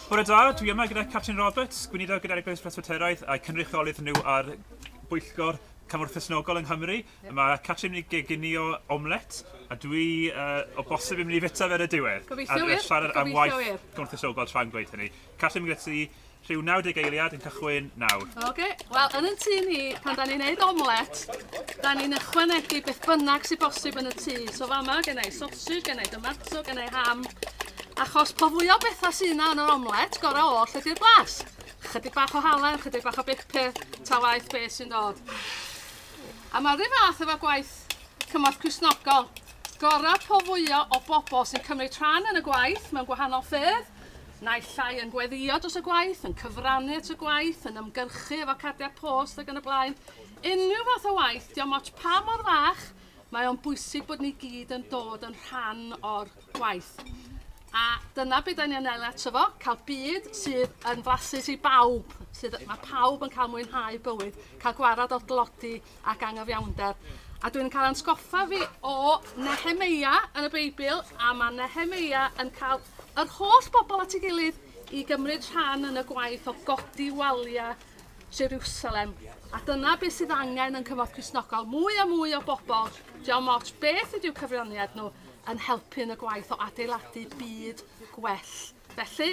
Bore da, dwi yma gyda Catrin Roberts, gweinidog gyda'r Eglwys Presbyteraidd a'i cynrychiolydd nhw ar bwyllgor Cymorth Cresnogol yng Nghymru. Yeah. Mae Catrin yn geginio omlet, a dwi uh, o bosib yn mynd i fita fe ar y diwedd. Gobeithio wir. Ar siarad am waith Cymorth Cresnogol tra'n gweud hynny. Catrin, gyda ti, Rhyw 90 eiliad yn cychwyn nawr. Oce, okay. wel yn y tŷ ni, pan da ni'n neud omlet, da ni'n ychwanegu beth bynnag sy'n bosib yn y tŷ. So fama, gen i sausage, gen i tomato, gen i ham. Achos po fwy o bethau sy'n yna yn yr omlet, gorau oll ydy'r blas. Chydig bach o halen, chydig bach o bupur, ta waith beth sy'n dod. A mae'r rhyw fath efo gwaith cymorth cwsnogol. Gorau po fwyaf o bobl sy'n cymryd rhan yn y gwaith mewn gwahanol ffyrdd, Naill ai yn gweddïo dros y gwaith, yn cyfrannu at y gwaith, yn ymgyrchu efo cardiau post ac yn y blaen. Unrhyw fath o waith, diom ots pa mor fach, mae o'n bwysig bod ni gyd yn dod yn rhan o'r gwaith. A dyna beth da ni'n anelu ato fo, cael byd sydd yn flasus i bawb, sydd, mae pawb yn cael mwynhau bywyd, cael gwarad o'r dlodi ac angyfiawnder. A dwi'n cael ansgoffa fi o Nehemeia yn y Beibl, a mae Nehemeia yn cael Yr holl bobl at ei gilydd i gymryd rhan yn y gwaith o godi waliau Jeriwsalem. A dyna beth sydd angen yn Cymorth Cristnogol, mwy a mwy o bobl, diolch ots beth ydyw cyfraniad nhw, yn helpu yn y gwaith o adeiladu byd gwell. Felly,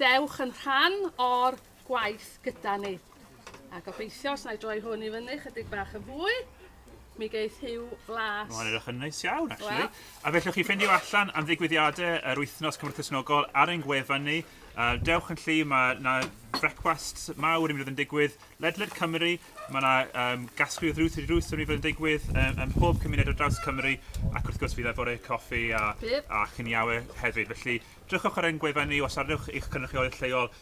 dewch yn rhan o'r gwaith gyda ni. A gobeithio, os na i droi hwn i fyny chydig bach yn fwy, mi geith hiw flas. Mae'n edrych yn neis iawn, actually. Well. A fe allwch chi ffeindio allan am ddigwyddiadau yr wythnos Cymru Cresnogol ar ein gwefan ni. Uh, dewch yn lli, mae na frecwast mawr i mi fod yn digwydd ledled Cymru. Mae yna um, gasglu o ddrws i ddrws yn mi fod yn digwydd um, ym mhob cymuned o draws Cymru. Ac wrth gwrs fydd e bore coffi a, a chyniawe hefyd. Felly, drychwch ar ein gwefan ni os arnewch eich cynrychiolydd lleol